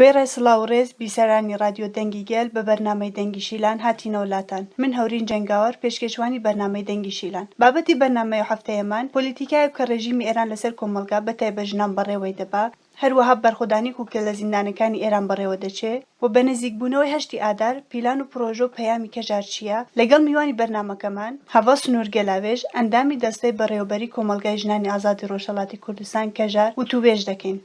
وێڕای سڵاو و ڕێز بیسەرانی ڕادیۆ دەنگی گەل بە بەرنامەی دەنگی شیلان هاتینەوە لاتان من هەورین جەنگاوەر پێشکێشوانی بەرنامەی دەنگی شیلان بابەتی بەرنامەی هەفتەیەمان پۆلیتیکایەک کە ڕێژیمی ئێران لەسەر کۆمەڵگا بە تایبەت ژنان بەڕێوەی دەبا هەروەها بەرخۆدانی کوک کە لە زیندانەکانی ئێران بەڕێوە دەچێ و بە نزیک بوونەوەی هەشتی ئادار پیلان و پڕۆژە و پەیامی کەژار چییە لەگەڵ میوانی بەرنامەکەمان هەڤاڵ سنوور گەلاوێژ ئەندامی دەستەی بەڕێوەبەری کۆمەڵگای ژنانی ئازادی ڕۆژهەڵاتی کوردستان کەژار وتووێژ دەکەین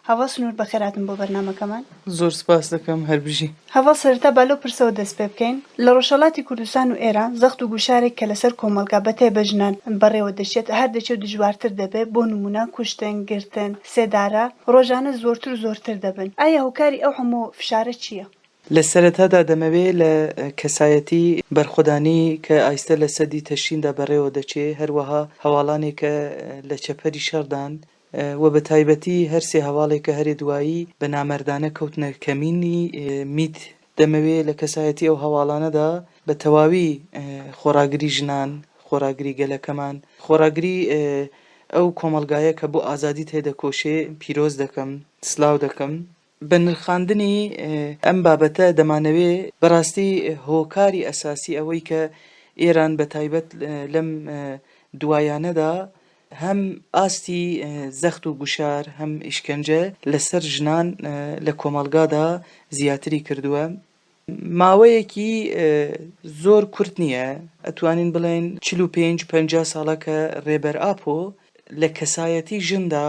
هەڤاڵ سنوور بەخێر هاتن بۆ بەرنامەکەمان. زۆر سپاست دەکەم هەر بژی. هەڤاڵ سەرەتا با لەو پرسەوە دەست پێ بکەین لە ڕۆژهەڵاتی کوردستان و ئێران زەخت و گوشارێک کە لەسەر کۆمەڵگا بە تایبەت ژنان بەڕێوە دەچێت هەر دەچێ و دژوارتر دەبێ بۆ نموونە کوشتن، گرتن، سێدارە ڕۆژانە زۆرتر و زۆرتر دەبن ئایا هۆکاری ئەو هەموو فشارە چییە؟ لە سەرەتادا دەمەوێ لە کەسایەتی بەرخۆدانی کە ئایستە لە سەدی تەشریندا بەڕێوە دەچێ هەروەها هەواڵانێک کە لە چەپەری شەڕدان وە بە تایبەتی هەر سێ هەواڵێ کە هەرێ دوایی بە نامەردانە کەوتنە کەمینی میت دەمەوێ لە کەسایەتی ئەو هەواڵانەدا بە تەواوی خۆڕاگری ژنان، خۆڕاگری گەلەکەمان، خۆڕاگری ئەو کۆمەڵگایە کە بۆ ئازادی تێدەکۆشێ پیرۆز دەکەم، سلاو دەکەم. بە نرخاندنی ئەم بابەتە دەمانەوێ بەڕاستی هۆکاری ئەساسی ئەوەی کە ئێران بە تایبەت لەم دوایانەدا هەم ئاستی زەخت و گوشار هەم ئیشکەنجە لەسەر ژنان لە کۆمەڵگادا زیاتری کردووە ماوەیەکی زۆر کورت نییە ئەتوانین بڵێن چ پێ پ ساڵە کە ڕێبەر ئاپۆ لە کەسایەتی ژندا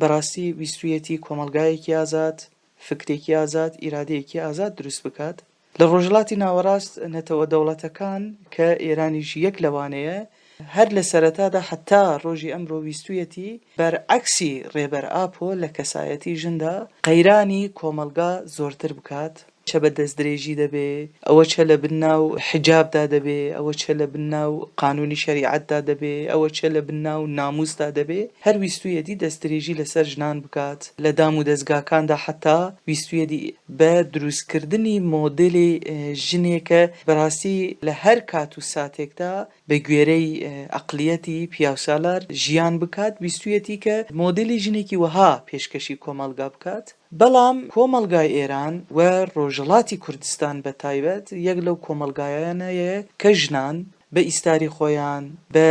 بەڕاستی ویستویەتی کۆمەڵگایەکی ئازاد، فکرێکی ئازاد، ئیرادەیەکی ئازاد دروست بکات. لە ڕۆژهەڵاتی ناوەڕاست نەتەوە دەوڵەتەکان کە ئێرانیش یەک لەوانەیە، هەر لە سەرەتادا حەتا ڕۆژی ئەمرۆ ویستویەتی بەرعەکسی ڕێبەر ئاپۆ لە کەسایەتی ژندا قەیرانی کۆمەڵگا زۆرتر بکات، چە بە دەست درێژی دەبێ، ئەوە چە لە بن ناو حیجابدا دەبێ، ئەوە چە لە بن ناو قانوونی شەریعەتدا دەبێ، ئەوە چە لە بن ناو نامووسدا دەبێ، هەر ویستوویەتی دەست درێژی لە سەر ژنان بکات لە دام و دەزگاکاندا حەتا ویستوویەتی بە درووست کردنی مۆدێلی ژنێ کە بە ڕاستی لە هەر کات و ساتێکدا بە گوێرەی ئەقڵیەتی پیاوسالار ژیان بکات ویستوویەتی کە مۆدێلی ژنێکی وەها پێشکەشی کۆمەڵگا بکات. بەڵام کۆمەڵگای ئێران و ڕۆژهەڵاتی کوردستان بە تایبەت یەک لەو کۆمەڵگایانەیە کە ژنان بە ئیستاری خۆیان، بە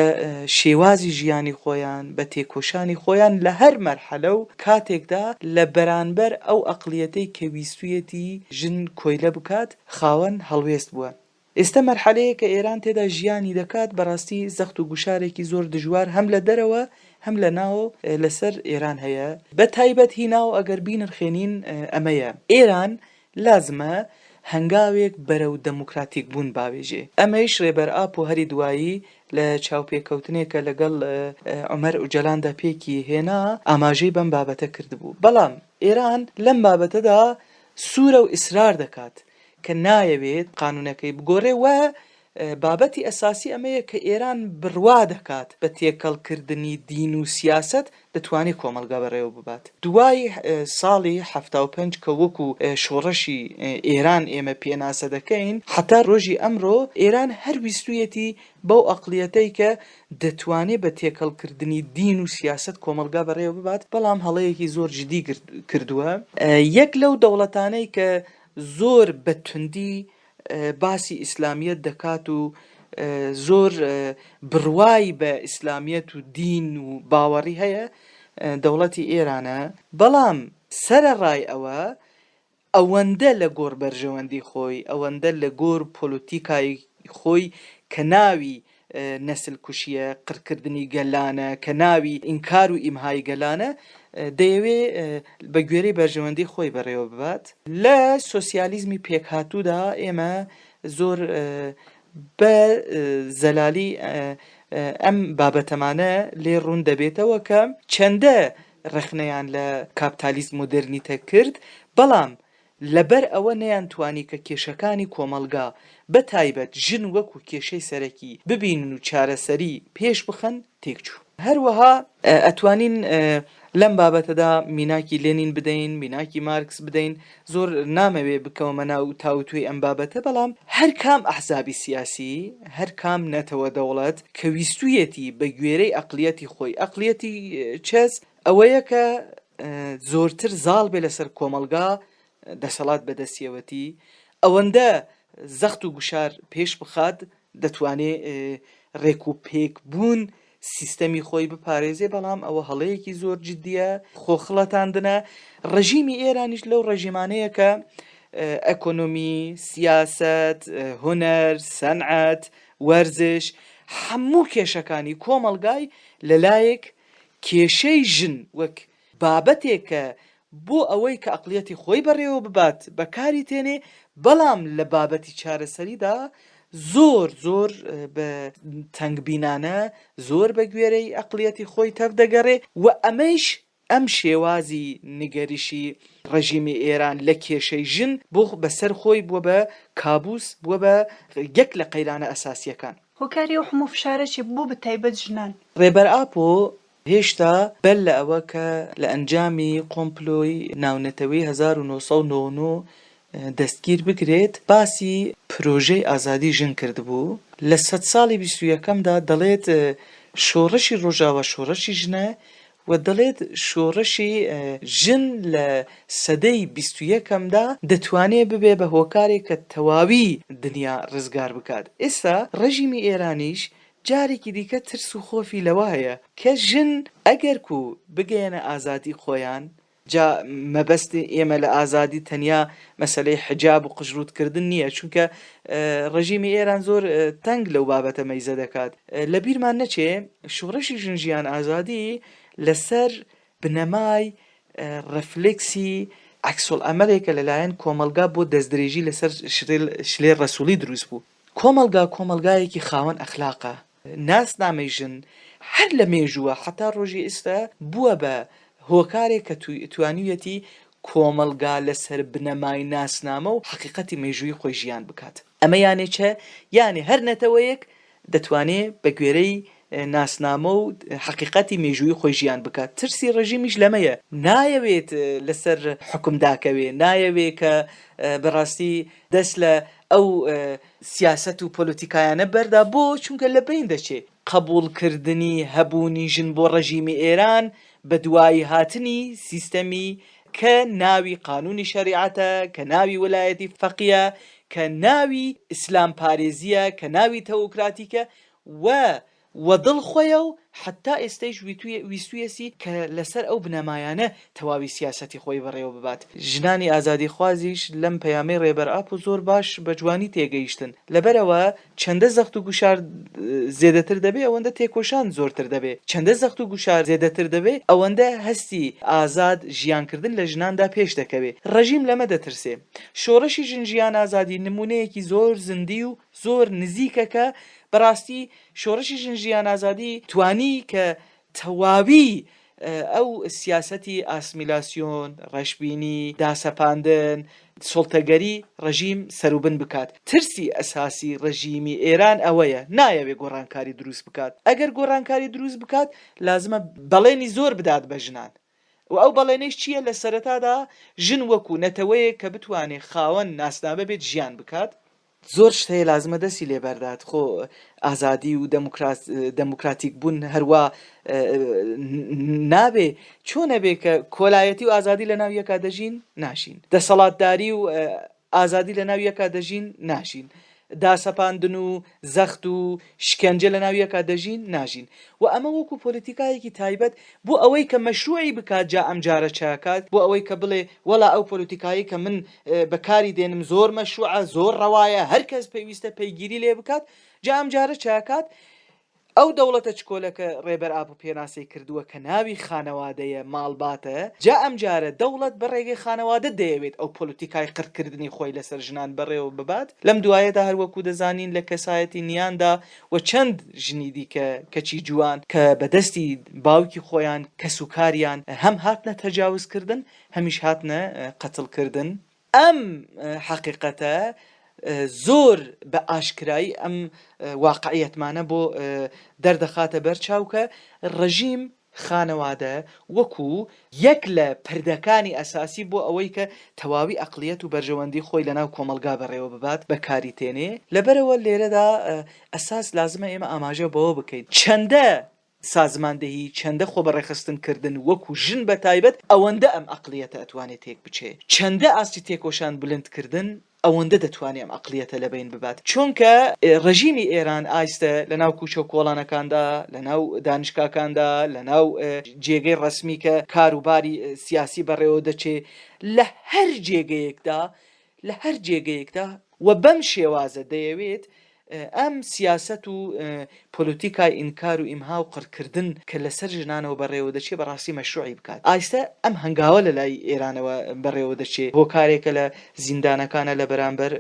شێوازی ژیانی خۆیان، بە تێکۆشانی خۆیان لە هەر مەرحەلە و کاتێکدا لە بەرانبەر ئەو ئەقڵیەتەی کە ویستوویەتی ژن کۆیلە بکات، خاوەن هەڵوێست بووە. ئێستە مەرحەلەیە کە ئێران تێدا ژیانی دەکات، بەڕاستی زەخت و گوشارێکی زۆر دژوار هەم لە دەرەوە هەم لە ناو لەسەر ئێران هەیە، بە تایبەت هی ناو ئەگەر بینرخێنین ئەمەیە، ئێران لازمە هەنگاوێک بەرەو دەموکراتیک بوون باوێژێ، ئەمەیش رێبەر ئاپۆ هەری دوایی لە چاوپێکەوتنێکە لەگەڵ عومەر ئوجەلاندا پێکی هێنا ئاماژەی بەم بابەتە کردبوو، بەڵام ئێران لەم بابەتەدا سوورە و ئیسرار دەکات کە نایەوێت قانونەکەی بگۆرێ و بابەتی ئەساسی ئەمەیە کە ئێران بڕوا دەکات بە تێکەڵکردنی دین و سیاسەت دەتوانێت کۆمەڵگا بەڕێوە ببات. دوای ساڵی حەفتا و پێنج کە وەکو شۆڕشی ئێران ئێمە پێناسە دەکەین هەتا ڕۆژی ئەمرۆ ئێران هەر ویستویەتی بەو ئەقڵیەتەی کە دەتوانێت بە تێکەڵکردنی دین و سیاسەت کۆمەڵگا بەڕێوە ببات بەڵام هەڵەیەکی زۆر جدی کردوە. یەک لەو دەوڵەتانەی کە زۆر بە توندی باسی ئیسلامیەت دەکات و زۆر بڕوای بە ئیسلامیەت و دین و باوەڕی هەیە دەوڵەتی ئێرانە بەڵام سەرەڕای ئەوە ئەوەندە لە گۆڕ بەرژەوەندی خۆی ئەوەندە لە گۆر پۆلۆتیکای خۆی کە ناوی نەسل کوشیە، قڕکردنی گەلانە کە ناوی ئینکار و ئیمهای گەلانە دەیەوێ بە گوێرەی بەرژەوەندی خۆی بەڕێوە ببات. لە سۆسیالیزمی پێکهاتوودا ئێمە زۆر بە زەلالی ئەم بابەتەمانە لێ ڕوون دەبێتەوە کە چەندە ڕەخنەیان لە کاپتالیزم مۆدێرنیتە کرد، بەڵام لەبەر ئەوە نەیانتوانی کە کێشەکانی کۆمەڵگا، بە تایبەت ژن وەکوو کێشەی سەرەکی ببینن و چارەسەری پێش بخەن، تێک چوو. هەروەها ئەتوانین لەم بابەتەدا میناکی لێنین بدەین، میناکی مارکس بدەین، زۆر نامەوێ بکەومە ناو تاوتوێی ئەم بابەتە، بەڵام هەر کام ئەحزابی سیاسی، هەر کام نەتەوە دەوڵەت کە ویستوویەتی بە گوێرەی ئەقڵیەتی خۆی، ئەقڵیەتی چەس، ئەوەیە کە زۆرتر زاڵ بێ لەسەر کۆمەلگا دەسەڵات بەدەستیەوەتی ئەوەندە زەخت و گوشار پێش بخات دەتوانێ ڕێک و پێک بوون سیستەمی خۆی بپارێزێ بەڵام ئەوە هەڵەیەکی زۆر جددیە خۆخڵەتاندنە ڕژیمی ئێرانیش لەو ڕژیمانەیە کە ئەکۆنۆمی سیاست هوەر سەنعات وەرزش هەموو کێشەکانی کۆمەلگای لەلایەک کێشەی ژن وەک بابەتێک کە بۆ ئەوەی کە ئەقڵیەتی خۆی بەڕێوە ببات بەکاری تێنێ بەڵام لە بابەتی چارەسەریدا زۆر زۆر بە تەنگبینانە زۆر بە گوێرەی ئەقڵیەتی خۆی تەڤ دەگەڕێ و ئەمەیش ئەم شێوازی نگەریشی ڕژیمی ئێران لە کێشەی ژن بۆ بەسەر خۆی بووە بە کابوس بووە بە یەک لە قەیرانە ئەساسییەکان. هۆکاری ئەو حموو فشارە چیە بۆ بە تایبەت ژنان؟ ڕێبەر ئاپۆ هێشتا بەر لە ئەوە کە لە ئەنجامی قۆمپلۆی ناونەتەوەی هەزار و نۆ سەد و نۆ و نۆ دەستگیر بکرێت باسی پرۆژەی ئازادی ژن کردبوو لە سەد ساڵی بیست و یەکەمدا دەڵێت شۆڕشی ڕۆژاوا شۆڕشی ژنە و دەڵێت شۆڕشی ژن لە سەدەی بیست و یەکەمدا دەتوانێت ببێت بە هۆکارێک کە تەواوی دنیا ڕزگار بکات. ئێستا ڕێژیمی ئێرانیش جارێکی دیکە ترس و خۆفی لەوە هەیە کە ژن ئەگەرکو بگەیەنە ئازادی خۆیان جا مەبەستی ئێمە لە ئازادی تەنیا مەسەلەی حجاب و قژڕووت کردن نییە چونکە ڕژیمی ئێران زۆر تەنگ لەو بابەتە مەیزە دەکات لە بیرمان نەچێ شوڕشی ژن ژیان ئازادی لەسەر بنەمای ڕفلکسی عکسۆل ئەمەلێکە لەلایەن کۆمەلگا بۆ دەستدرێژی لەسەر شلێ ڕسوولی دروست بوو کۆمەلگا کۆمەلگایەکی خاوەن ئەخلاقە ناسنامەی ژن هەر لە مێژووە هەتا ڕۆژی ئیستا بووە بە هۆکارێک کە توانیویەتی کۆمەڵگا لە سەر بنەمای ناسنامە و حەقیقەتی مێژوویی خۆی ژیان بکات. ئەمە یانێ چە؟ یانێ هەر نەتەوەیەک دەتوانێ بە گوێرەی ناسنامە و حەقیقەتی مێژوویی خۆی ژیان بکات. ترسی ڕێژیمیش لەمەیە. نایەوێت لە سەر حوکم داکەوێ. نایەوێ کە بە ڕاستی دەست لە ئەو سیاسەت و پۆلۆتیکایانە بەردا، بۆ؟ چونکە لە بەین دەچێ. قەبووڵ کردنی هەبوونی ژن بۆ ڕەژیمی ئێران بە دوایی هاتنی سیستەمی کە ناوی قانوونی شەریعەتە، کە ناوی وەلایەتی فەقیە، کە ناوی ئیسلام پارێزیە، کە ناوی تەوکراتیکە و و دڵ خۆیە و حەتا ئێستەیش ویستویەسی کە لە سەر ئەو بنەمایانە تەواوی سیاسەتی خۆی بەڕێوە ببات. ژنانی ئازادیخوازیش لەم پەیامەی ڕێبەر ئاپۆ زۆر باش بە جوانی تێگەیشتن. لەبەر ئەوە چەندە زەخت و گوشار زێدەتر دەبێ ئەوەندە تێکۆشان زۆرتر دەبێ. چەندە زەخت و گوشار زێدەتر دەبێ ئەوەندە هەستی ئازاد ژیان کردن لە ژناندا پێش دەکەوێ. ڕژیم لەمە دەترسێ. شۆڕشی ژن ژیان ئازادی نموونەیەکی زۆر زیندی و زۆر نزیکە کە بەڕاستی شۆڕشی ژن ژیان ئازادی توانی کە تەواوی ئەو سیاسەتی ئاسمیلاسیۆن ڕەشببینی داسەپاندن سڵتەگەری ڕژیم سەروبن بکات ترسی ئەساسی ڕژیمی ئێران ئەوەیە نایەوێ گۆڕانکاری دروست بکات ئەگەر گۆڕانکاری دروست بکات لازمە بەڵێنی زۆر بدات بە ژنان و ئەو بەڵێنەیش چییە لە سەرەتادا ژن وەکو نەتەوەیەک کە بتوانێت خاوەن ناسنامە بێت ژیان بکات زۆر شت هەیە لازمە دەسی لێ بەردات خۆ ئازادی و دەموکراتیک بوون هەروا نابێ چۆنە بێ کە کۆلایەتی و ئازادی لە ناو یەکا دەژین ناشین دەسەڵاتداری و ئازادی لە ناو یەکا دەژین ناشین داسەپاندن و زەخت و شکەنجە لە ناو یەکا دەژین ناژین و ئەمە وەکو پۆلیتیکایەکی تایبەت بۆ ئەوەی کە مەشروعی بکات جا ئەم جارە چاکات بۆ ئەوەی کە بڵێ وەڵا ئەو پۆلیتیکایی کە من بەکاری دێنم زۆر مەشوعە زۆر ڕەوایە هەر کەس پێویستە پەیگیری لێ بکات جا ئەم جارە چاکات ئەو دەوڵەتە چکۆلەکە ڕێبەر ئاپ و پێناسی کردووە کە ناوی خانەوادەیە ماڵباتە جا ئەم جارە دەوڵەت بە ڕێگەی خانەوادە دەیەوێت ئەو پۆلتیکای قڕکردنی خۆی لەسەر ژنان بەڕێوە ببات لەم دوایەدا هەروەکو دەزانین لە کەسایەتی نیاندا و چەند ژنی دیکە کەچی جوان کە بەدەستی باوکی خۆیان کەسوکاریان هەم هاتنە تەجاوزکردن هەمیش هاتنە قەتڵ کردن. ئەم حەقیقەتە زۆر بە ئاشکرایی ئەم واقعیەتمانە بۆ دەردەخاتە بەر چاو کە ڕژیم خانەوادە وەکوو یەک لە پردەکانی ئەساسی بۆ ئەوەی کە تەواوی ئەقڵیەت و بەرژەوەندی خۆی لە ناو کۆمەڵگا بەڕێوە ببات بە کاری تێنێ. لەبەرەوە لێرەدا ئەساس لازمە ئێمە ئاماژە بەوە بکەین چەندە سازماندەهی چەندە خۆبەڕێخستن کردن وەکو ژن بە تایبەت ئەوەندە ئەم ئەقڵیەتە ئەتوانێ تێک بچێ چەندە ئاستی تێکۆشان بلند کردن ئەوەندە دەتوانێ ئەم ئەقڵیەتە لە بەین ببات چۆنکە ڕژیمی ئێران ئایستە لە ناو کوچەو کۆڵانەکاندا لە ناو دانشکاکاندا لە ناو جێگەی ڕەسمی کە کارو باری سیاسی بەڕێوە دەچێ لە هەر جێگەیەکدا لە هەر جێگەیەکدا، وە بەم شێوازە دەیەوێت ئەم سیاسەت و پۆلۆتیکای ئینکار و ئیمها و قڕکردن کە لەسەر ژنانەوە بەڕێوە دەچێت بە ڕاستی مەشروعی بکات. ئایستە ئەم هەنگاوە لە لای ئێرانەوە بەڕێوە دەچێت، هۆکارێکە لە زیندانەکانە لە بەرامبەر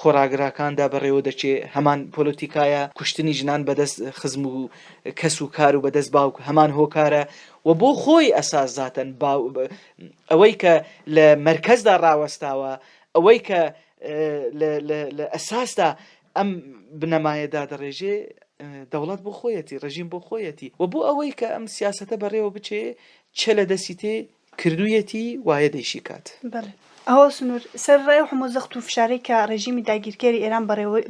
خۆڕاگراکاندا بەڕێوە دەچێت، هەمان پۆلۆتیکایە، کوشتنی ژنان بە دەست خزم و کەس و کار و بە دەست باوک هەمان هۆکارە و بۆ خۆی ئەساس زاتەن ئەوەی کە لە مەرکەزدا ڕاوەستاوە ئەوەی کە لە ئەساسدا ئەم بنەمایە دادەڕێژێ دەوڵەت بۆ خۆیەتی ڕژیم بۆ خۆیەتی و بۆ ئەوەی کە ئەم سیاستە بەڕێوە بچێ چ لە دەستی تێ کردویەتی وایە دەیشی کات ئەوە سنوور سەر ڕای و هەموو زەخت و فشارێک کە ڕێژیمی داگیرکەری ئێران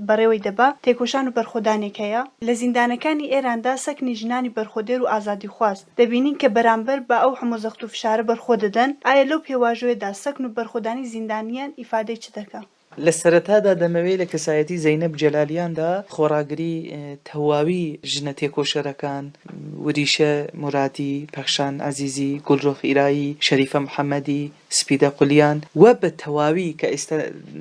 بەڕێوەی دەبا تێکۆشان و بەرخۆدانێک هەیە لە زیندانەکانی ئێراندا سەکنی ژنانی بەرخۆدێر و ئازادیخواز دەبینین کە بەرامبەر بە ئەو هەموو زەخت و فشارە بەرخۆ دەدەن، ئایا لەو پێواژۆیەدا سەکن و بەرخۆدانی زیندانییان ئیفادەی چ دەکا؟ لە سەرەتادا دەمەوێ لە کەسایەتی زەینەب جەلالیاندا خۆڕاگری تەواوی ژنە تێکۆشەرەکان، وریشە مورادی، پەخشان عەزیزی، گوڵرۆخ ئیرایی، شەریفە محەمەدی، سپیدە قولیان و بە تەواوی کە ئێستا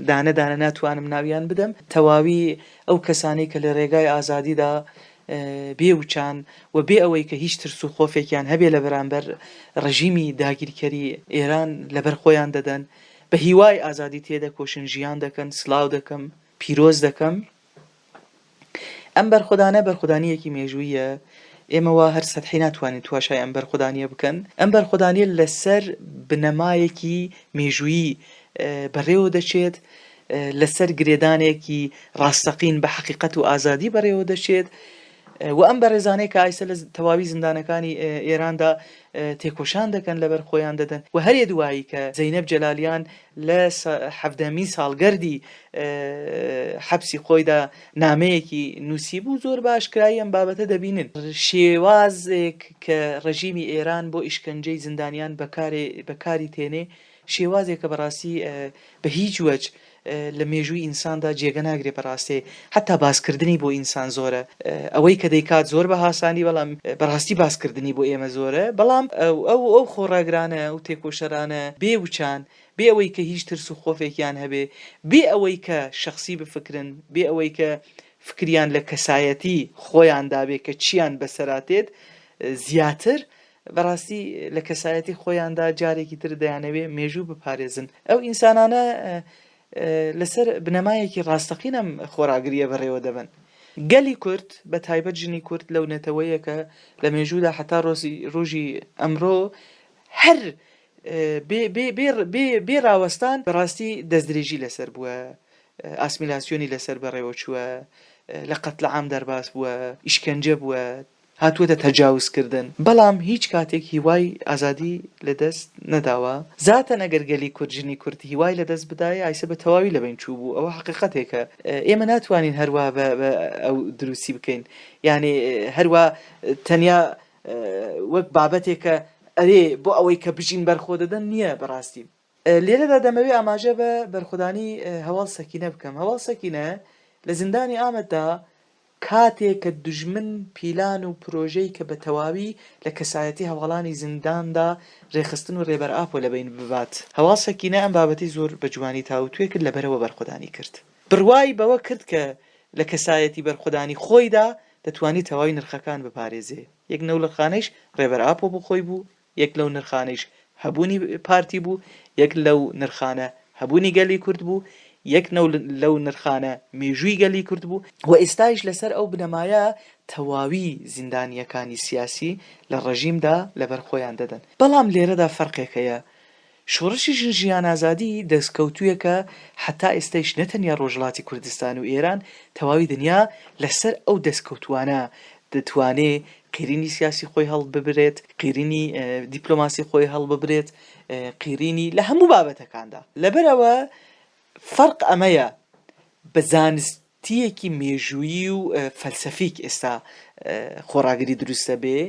دانە دانە ناتوانم ناویان بدەم، تەواوی ئەو کەسانەی کە لە رێگای ئازادیدا بێ وچان و بێ ئەوەی کە هیچ ترس و خۆفێکیان هەبێ لە بەرامبەر ڕژیمی داگیرکەری ئێران لە بەر خۆیان دەدەن بە هیوای ئازادی تێدەکۆشن ژیان دەکەن سلاو دەکەم پیرۆز دەکەم ئەم بەرخودانە بەرخودانیەکی مێژوویە ئێمە وا هەر سەدحی ناتوانین تواشای ئەم بەرخودانیە بکەن ئەم بەرخودانیە لەسەر بنەمایەکی مێژوویی بەڕێوە دەچێت لەسەر گرێدانێکی ڕاستەقین بە حەقیقەت و ئازادی بەڕێوە دەچێت و ئەم بەڕێزانەی کە ئایسە لە تەواوی زیندانەکانی ئێراندا تێکۆشان دەکەن لەبەر خۆیان دەدەن و هەرێ دوایی کە زەینەب جەلالیان لە حەفدەمین ساڵگەردی حەبسی خۆیدا نامەیەکی نووسی بوو زۆر باشکرایی ئەم بابەتە دەبینن شێوازێک کە ڕژیمی ئێران بۆ ئیشکەنجەی زیندانیان بەکاری تێنێ شێوازێک کە بەڕاستی بە هیچ وەج لە مێژووی ئینساندا جێگە ناگرێ بەڕاستێ حەتا باس کردنی بۆ ئینسان زۆرە ئەوەی کە دەیکات زۆر بە هاسانی بەڵام بەڕاستی باس کردنی بۆ ئێمە زۆرە بەڵام ئەو ئەو خۆڕاگرانە ئەو تێکۆشەرانە بێ وچان بێ ئەوەی کە هیچ ترس و خۆفێکیان هەبێ بێ ئەوەی کە شەخسی بفکرن بێ ئەوەی کە فکریان لە کەسایەتی خۆیان دابێ کە چیان بەسەرا تێت زیاتر بەڕاستی لە کەسایەتی خۆیاندا جارێکی تر دەیانەوێ مێژوو بپارێزن ئەو ئینسانانە لەسەر بنەمایەکی ڕاستەقین ئەم خۆراگریە بەڕێوە دەبن گەلی کورد بە تایبەت ژنی کورد لەو نەتەوەیەکە لە مێژوودا حتا ڕۆزی ڕژی ئەمڕۆ هەر بێ ڕاوەستان بەڕاستی دەستدرێژی لەسەر بووە ئاسمیلاسیۆنی لەسەر بەڕێوە چووە لە قەتلە عام دەرباس بووە ئیشکەنجە بووە هاتووەتە تەجاوز کردن بەڵام هیچ کاتێک هیوای ئازادی لە دەست نەداوە زاتەن ئەگەر گەلی کورد ژنی کورد هیوای لە دەست بدایە ئایسە بە تەواوی لە بەین چوو بوو ئەوە حەقیقەتێکە ئێمە ناتوانین هەر وا بە ئەو دروستی بکەین یانێ هەر وا تەنیا وەک بابەتێکە ئەرێ بۆ ئەوەی کە بژین بەرخۆ دەدەن نییە بەڕاستی لێرەدا دەمەوێ ئاماژە بە بەرخودانی هەواڵ سەکینە بکەم، هەواڵ سەکینە لە زیندانی ئامەددا کاتێک کە دوژمن پیلان و پرۆژەی کە بە تەواوی لە کەسایەتی هەواڵانی زینداندا رێکخستن و رێبەر ئاپۆ لە بەین ببات، هەواڵ سەکینە ئەم بابەتەی زۆر بە جوانی تاووتوێ کرد لە بەرەوە بەرخودانی کرد. بڕوای بەوە کرد کە لە کەسایەتی بەرخودانی خۆیدا دەتوانێ تەواوی نرخەکان بپارێزێ. یەک نەوڵەخانەیش رێبەر ئاپۆ بۆ خۆی بوو، یەک لەو نرخانەیش هەبوونی پارتی بوو، یەک لەو نرخانە هەبوونی گەلی کورد بوو، یەک لەو نرخانە مێژووی گەلی کورد بوو، و ئێستایش لەسەر ئەو بنەمایە تەواوی زیندانییەکانی سیاسی لە ڕێژیمدا لەبەر خۆیان دەدەن. بەڵام لێرەدا فەرقێک هەیە، شۆڕشی ژن ژیان ئازادی دەستکەوتوویەکە هەتا ئێستەیش نەتەنیا ڕۆژهەڵاتی کوردستان و ئێران تەواوی دنیا لەسەر ئەو دەستکەوتووانە دەتوانێ قیرینی سیاسی خۆی هەڵببرێت قیرینی دیپلۆماسی خۆی هەڵببرێت قیرینی لە هەموو بابەتەکاندا لەبەر ئەوە فەرق ئەمەیە بە زانست تیەکی مێژوویی و فەلسەفیک ئێستا خۆڕاگری دروست دەبێ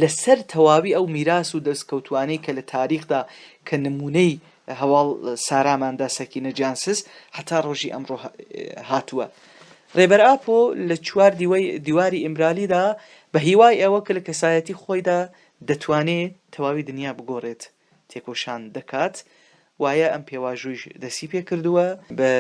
لە سەر تەواوی ئەو میراس و دەستکەوتوانەی کە لە تاریخدا کە نموونەی هەواڵ ساراماندا سەکینە جانسز هەتا ڕۆژی ئەمڕۆ هاتووە. ڕێبەر ئاپۆ لە چوار دیوەی دیواری ئیمرالیدا بە هیوای ئەوە کە لە کەسایەتی خۆیدا دەتوانێ تەواوی دنیا بگۆڕێت، تێکۆشان دەکات، وایە ئەم پێواژوویش دەستی پێ کردووە بە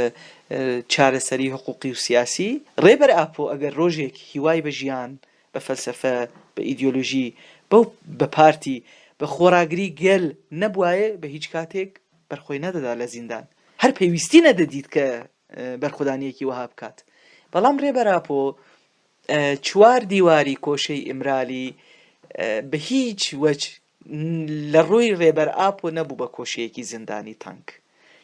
چارەسەری حقووقی و سیاسی. ڕێبەر ئاپۆ ئەگەر ڕۆژێک هیوای بە ژیان، بە فەلسەفە، بە ئیدیۆلۆژی بە و بە پارتی، بە خۆڕاگری گەل نەبوایە بە هیچ کاتێک بەرخۆی نەدەدا لە زیندان. هەر پێویستی نەدەدیت کە بەرخودانییەکی وەها بکات. بەڵام ڕێبەر ئاپۆ چوار دیواری کۆشەی ئیمرالی بە هیچ وەج لە ڕووی ڕێبەر ئاپۆ نەبوو بە کۆشەیەکی زیندانی تەنک،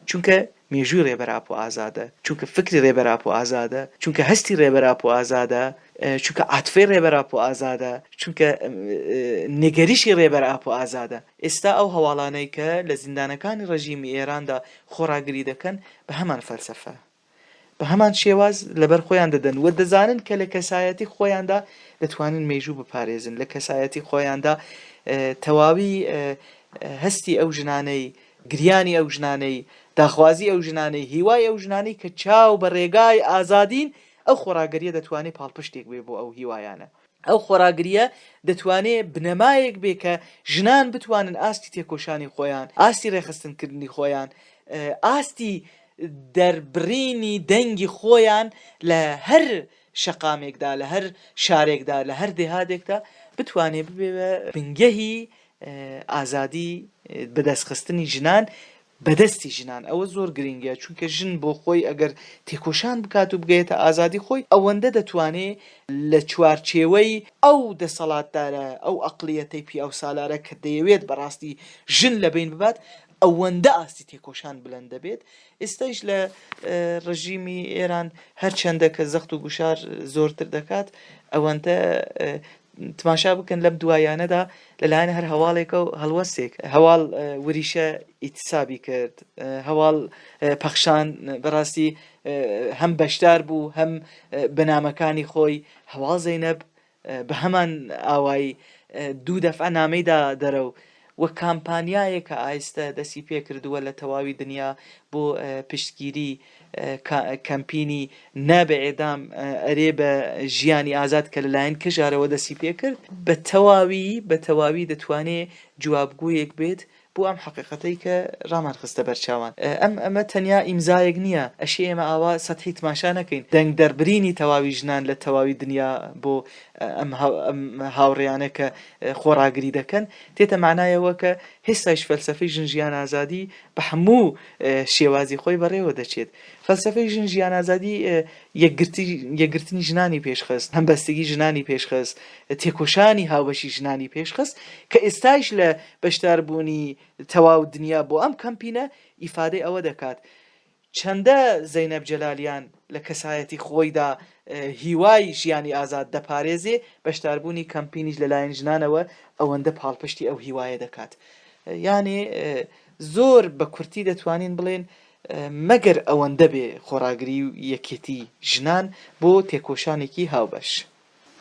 چونکە مێژووی ڕێبەر ئاپۆ ئازادە، چونکە فکری ڕێبەر ئاپۆ ئازادە، چونکە هەستی ڕێبەر ئاپۆ ئازادە، چونکە عاتفەی ڕێبەر ئاپۆ ئازادە، چونکە نیگەریشی ڕێبەر ئاپۆ ئازادە. ئێستا ئەو هەواڵانەی کە لە زیندانەکانی ڕێژیمی ئێراندا خۆڕاگری دەکەن بە هەمان فەلسەفە، بە هەمان شێواز لەبەر خۆیان دەدەن و دەزانن کە لە کەسایەتی خۆیاندا دەتوانن مێژوو بپارێزن لە کەسایەتی خۆیاندا تەواوی هەستی ئەو ژنانەی گریانی ئەو ژنانەی داخوازی ئەو ژنانەی هیوای ئەو ژنانەی کە چاو بە ڕێگای ئازادین ئەو خۆڕاگەریە دەتوانێت پاڵپشتێک بێ بۆ ئەو هیوایانە ئەو خۆڕاگرییە دەتوانێ بنەمایەک بێ کە ژنان بتوانن ئاستی تێکۆشانی خۆیان، ئاستی ڕێکخستنکردنی خۆیان، ئاستی دەربڕینی دەنگی خۆیان لە هەر شەقامێکدا، لە هەر شارێکدا، لە هەر دێهاتێکدا بتوانێ ببێ بە بنگەهی ئازادی بەدەستخستنی ژنان بەدەستی ژنان ئەوە زۆر گرینگە چونکە ژن بۆ خۆی ئەگەر تێکۆشان بکات و بگەیەتە ئازادی خۆی ئەوەندە دەتوانێ لە چوارچێوەی ئەو دەسەڵاتدارە ئەو ئەقڵیەتەی پیاوسالارە کە دەیەوێت بەڕاستی ژن لە بەین ببات ئەوەندە ئاستی تێکۆشان بلند دەبێت ئیستەیش لە ڕژیمی ئێران هەرچەندە کە زەخت و گوشار زۆرتر دەکات ئەوەندە تماشا بکەن لەم دواییانەدا لەلایەن هەر هەواڵێکە و هەڵوەستێک هەواڵ وریشە ئیتسابی کرد هەواڵ پەخشان بەڕاستی هەم بەشدار بوو هەم بەنامەکانی خۆی هەواڵ زەینەب بە هەمان ئاوای دوو دەفع نامەیدا دەرە و و کامپانیایەکە ئایستە دەستی پێکردووە لە تەواوی دنیا بۆ پشتگیری کەمپینی نا بە ئێدام ئەرێ بە ژیانی ئازاد کە لەلایەن کەژارەوە دەستی پێکرد بە تەواوی بە تەواوی دەتوانێ جوابگۆیەک بێت بۆ ئەم حەقیقەتەی کە ڕامان خستە بەرچاوان ئەم ئەمە تەنیا ئیمزایەک نییە ئەشێ ئێمە ئاوا سەتحی تماشا نەکەین دەنگ دەربرینی تەواوی ژنان لە تەواوی دنیا بۆ ئەم هاوڕێیانە کە خۆڕاگری دەکەن، تێتە مانایەوە کە هێستایش فەلسەفەی ژن ژیان ئازادی بە هەموو شێوازی خۆی بەڕێوە دەچێت. فەلسەفەی ژن ژیان ئازادی یەکگرتنی ژنانی پێشخست، هەمبەستگی ژنانی پێشخست، تێکۆشانی هاوبەشی ژنانی پێشخست کە ئێستایش لە بەشداربوونی تەواو دنیا بۆ ئەم کەمپینە ئیفادەی ئەوە دەکات چەندە زەینەب جەلالیان لە کەسایەتی خۆیدا هیوای ژیانی ئازاد دەپارێزێ، بەشداربوونی کەمپینیش لەلایەن ژنانەوە ئەوەندە پاڵپشتی ئەو هیوایە دەکات. یانێ زۆر بە کورتی دەتوانین بڵێن مەگەر ئەوەندە بێ خۆڕاگری و یەکێتی ژنان بۆ تێکۆشانێکی هاوبەش.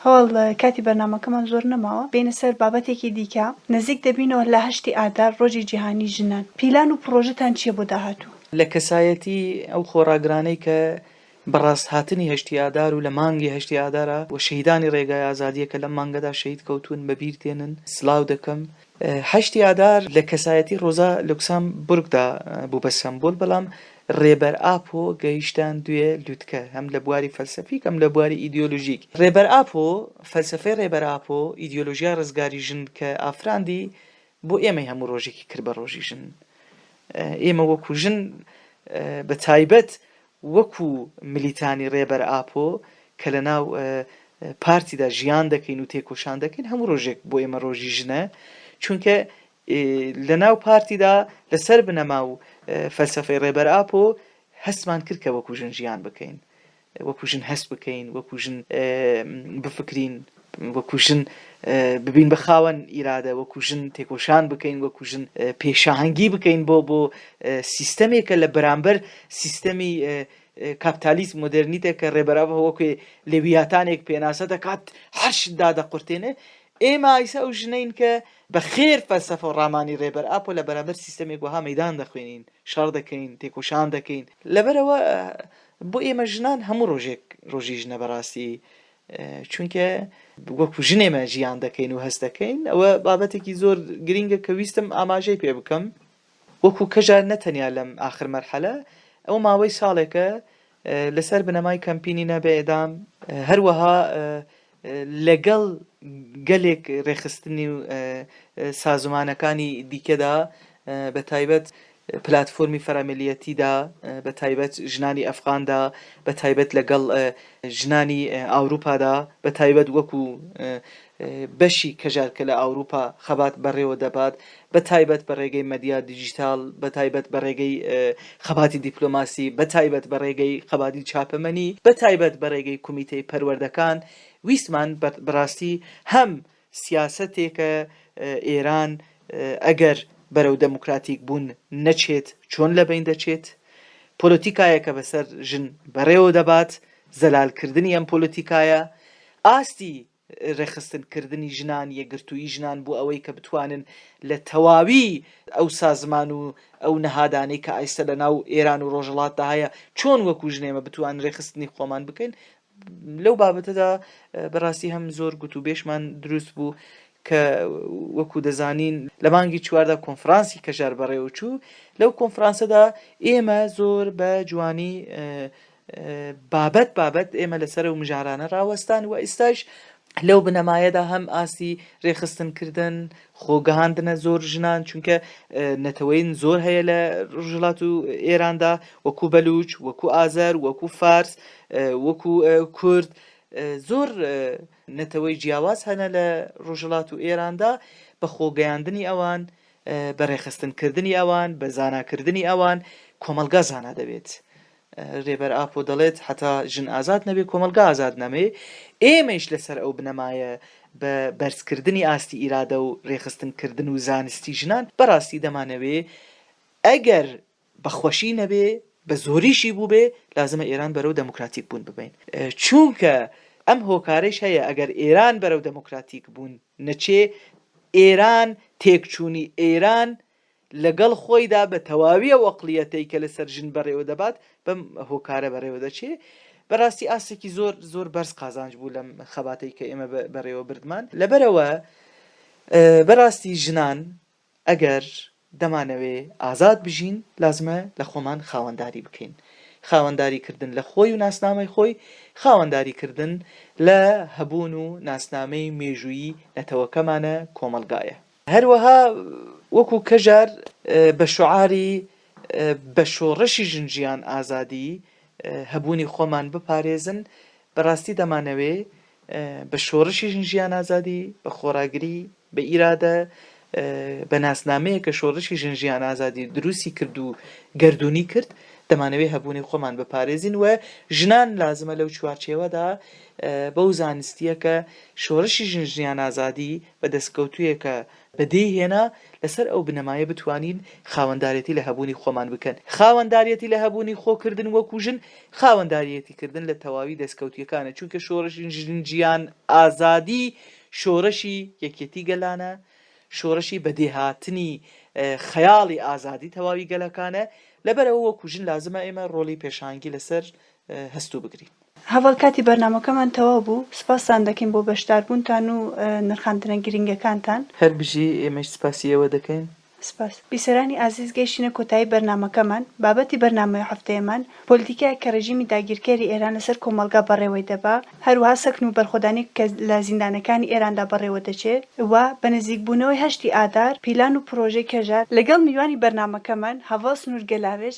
هەوال کاتی بەرنامەکەمان زۆر نەماوە بێینە سەر بابەتێکی دیکە نزیک دەبینەوە لە هەشتی ئادار ڕۆژی جیهانی ژنان پیلان و پڕۆژەتان چیە بۆ داهاتوو؟ لە کەسایەتی ئەو خۆڕاگرانەی کە بە ڕاست هاتنی هەشتی ئادار و لە مانگی هەشتی ئادارا و شەهیدانی ڕێگای ئازادیە کە لەم مانگەدا شەهید کەوتوون بە بیر دێنن سلاو دەکەم هەشتی ئادار لە کەسایەتی ڕۆزا لوکسام بورگدا بوو بە سەمبول بەڵام ڕێبەر ئاپۆ گەیشتان دوێ لوتکە هەم لە بواری فەلسەفیک هەم لە بواری ئیدیۆلوژیک ڕێبەر ئاپۆ فەلسەفەی ڕێبەر ئاپۆ ئیدیۆلۆژیای ڕزگاری ژن کە ئافراندی بۆ ئێمەی هەموو ڕۆژێکی کرد بە ڕۆژی ژن ئێمە وەکو ژن بە تایبەت وەکو ملیتانی رێبەر ئاپۆ کە لە ناو پارتیدا ژیان دەکەین و تێکۆشان دەکەین هەموو رۆژێک بۆ ئێمە رۆژی ژنە چونکە لە ناو پارتیدا لە سەر بنەما و فەلسەفەی رێبەر ئاپۆ هەستمان کرد کە وەکو ژن ژیان بکەین وەکو ژن هەست بکەین وەکو ژن بفکرین وەکو ژن ببین بە خاوەن ئیرادە، وەکو ژن تێکۆشان بکەین، وەکو ژن پێشهەنگی بکەین بۆ بۆ سیستەمێک کە لە بەرامبەر سیستەمی کاپتالیزم مۆدێرنیتە کە ڕێبەر ئەڤە وەکوێ لێویاتانێک پێناسە دەکات هەر شت دادەقورتێنێ، ئێمە ئیستا ئەو ژنەین کە بە خێر فەلسەفە و ڕامانی ڕێبەر ئاپۆ لە بەرامبەر سیستەمێک وەها مەیدان دەخوێنین، شەڕ دەکەین، تێکۆشان دەکەین. لەبەر ئەوە بۆ ئێمە ژنان هەموو ڕۆژێک ڕۆژی ژنە بەڕاستی چونکە وەکو ژن ئێمە ژیان دەکەین و هەست دەکەین ئەوە بابەتێکی زۆر گرینگە کە ویستم ئاماژەی پێ بکەم وەکو کەژار نەتەنیا لەم ئاخر مەرحەلە ئەو ماوەی ساڵێکە لەسەر بنەمای کەمپینی نەبێدام هەروەها لەگەڵ گەلێک ڕێخستنی و سازمانەکانی دیکەدا بە تایبەت پلاتفۆرمی فەرەملییەتیدا بە تایبەت ژنانی ئەفغاندا بە تایبەت لە گەڵ ژنانی ئاوروپادا بە تایبەت وەکو بەشی کەژار کە لە ئاوروپا خەبات بەڕێوە دەبات بە تایبەت بە ڕێگەی مەدیا دیجیتال بە تایبەت بە ڕێگەی خەباتی دیپلۆماسی بە تایبەت بە ڕێگەی خەباتی چاپەمەنی بە تایبەت بە ڕێگەی کومیتەی پەروەردەکان ویستمان بەڕاستی هەم سیاسەتێکە ئێران ئەگەر بەرەو دەموکراتیک بوون نەچێت چۆن لەبەین دەچێت، پۆلۆتیکایەکە بەسەر ژن بەڕێوە دەبات، زەلال کردنی ئەم پۆلۆتیکایە، ئاستی رێکخستن کردنی ژنان، یەکگرتوویی ژنان بۆ ئەوەی کە بتوانن لە تەواوی ئەو سازمان و ئەو نەهادانەی کە ئایستە لە ناو ئێران و رۆژهەڵاتدا هەیە چۆن وەکوو ژنێمە بتوان رێکخستنی خۆمان بکەین، لەو بابەتەدا بەراستی هەم زۆر گوت و بێشمان دروست بوو کە وەکو دەزانین لە مانگی چواردا کۆنفرانسی کەژار بەڕێوە چوو لەو کۆنفرانسەدا ئێمە زۆر بە جوانی بابەت بابەت ئێمە لەسەر و مژارانە ڕاوەستان و ئیستاش لەو بنەمایەدا هەم ئاستی رێخستن کردن خۆ گەهاندنە زۆر ژنان چونکە نەتەوەین زۆر هەیە لە ڕژلات و ئێراندا وەکو بەلوچ وەکو ئازەر وەکو فارس وەکو کورد زۆر نەتەوەی جیاواز هەنە لە ڕژلات و ئێراندا بە خۆگەیاندنی ئەوان بە ڕێخستنکردنی ئەوان بە زاناکردنی ئەوان کۆمەلگا زانا دەبێت رێبەر ئاپۆ دەڵێت، هەتا ژن ئازاد نەبێت، کۆمەڵگا ئازاد نامێ. ئێمەیش لەسەر ئەو بنەمایە بە بەرزکردنی ئاستی ئیرادە و رێکخستنکردن و زانستی ژنان، بەڕاستی دەمانەوێ ئەگەر بە خوەشی نەبێ، بە زۆریشی بووبێ، لازمە ئێران بەرەو دەموکراتیک بوون ببەین. چوونکە ئەم هۆکارەیش هەیە، ئەگەر ئێران بەرەو دەموکراتیک بوون نەچێ، ئێران، تێکچوونی ئێران لەگەڵ خۆیدا بە تەواوی ئەو ئەقڵیەتەی کە لەسەر ژن بەڕێوە دەبات بەم هۆکارە بەڕێوە دەچێ بەڕاستی ئاستێکی زۆر زۆر بەرز قازانج بوو لەم خەباتەی کە ئێمە بەڕێوە بردمان لەبەرەوە بەڕاستی ژنان ئەگەر دەمانەوێ ئازاد بژین لازمە لە خۆمان خاوەنداری بکەین خاوەنداری کردن لە خۆی و ناسنامەی خۆی خاوەنداری کردن لە هەبوون و ناسنامەی مێژوویی نەتەوەکەمانە کۆمەلگایە هەروەها وەکو کەژار بە شوعاری بە شۆڕشی ژن ژیان ئازادی هەبوونی خۆمان بپارێزن بە ڕاستی دەمانەوێ بە شۆڕشی ژن ژیان ئازادی بە خۆڕاگری بە ئیرادە بە ناسنامەیە کە شۆڕشی ژن ژیان ئازادی دروستی کرد و گردردونی کرد دەمانەوێ هەبوونی خۆمان بپارێزین و ژنان لازمە لەو چوارچێوەدا بەو زانستیە کە شۆڕشی ژن ژیان ئازادی بە دەستکەوتوویە کە بەدی هێنا، لەسەر ئەو بنەمایە بتوانین خاوەندارێتی لە هەبوونی خۆمان بکەن. خاوەندارێتی لە هەبوونی خۆ کردن وەکوو ژن، خاوەنداریێتی کردن لە تەواوی دەستکەوتییەکانە، چونکە شۆڕشی ژن جیان ئازادی شۆڕشی یەکێتی گەلانە، شۆڕشی بەدێ هاتنی خەیاڵی ئازادی تەواوی گەلەکانە، لەبەرئەوە وەکوو ژن لازمە ئێمە ڕۆڵی پێشانگی لەسەر هەست و بگرین. هەڤاڵ کاتی بەرنامەکەمان تەواو بوو سوپاستان دەکەین بۆ بەشداربوونتان و نرخاندنە گرینگەکانتان. هەر بژی، ئێمەیش سوپاسی ئێوە دەکەین. سپاس. بیسەرانی ئازیز گەیشتینە کۆتایی بەرنامەکەمان، بابەتی بەرنامەی هەفتەیەمان، پۆلیتیکایەک کە ڕێژیمی داگیرکەری ئێران لەسەر کۆمەڵگا بەڕێوەی دەبا، هەروەها سەکن و بەرخۆدانێک کە لە زیندانەکانی ئێراندا بەڕێوە دەچێ و بە نزیکبوونەوەی هەشتی ئادار پیلان و پرۆژەی کەژار، لەگەڵ میوانی بەرنامەکەمان هەڤاڵ سنوور گەلاوێژ،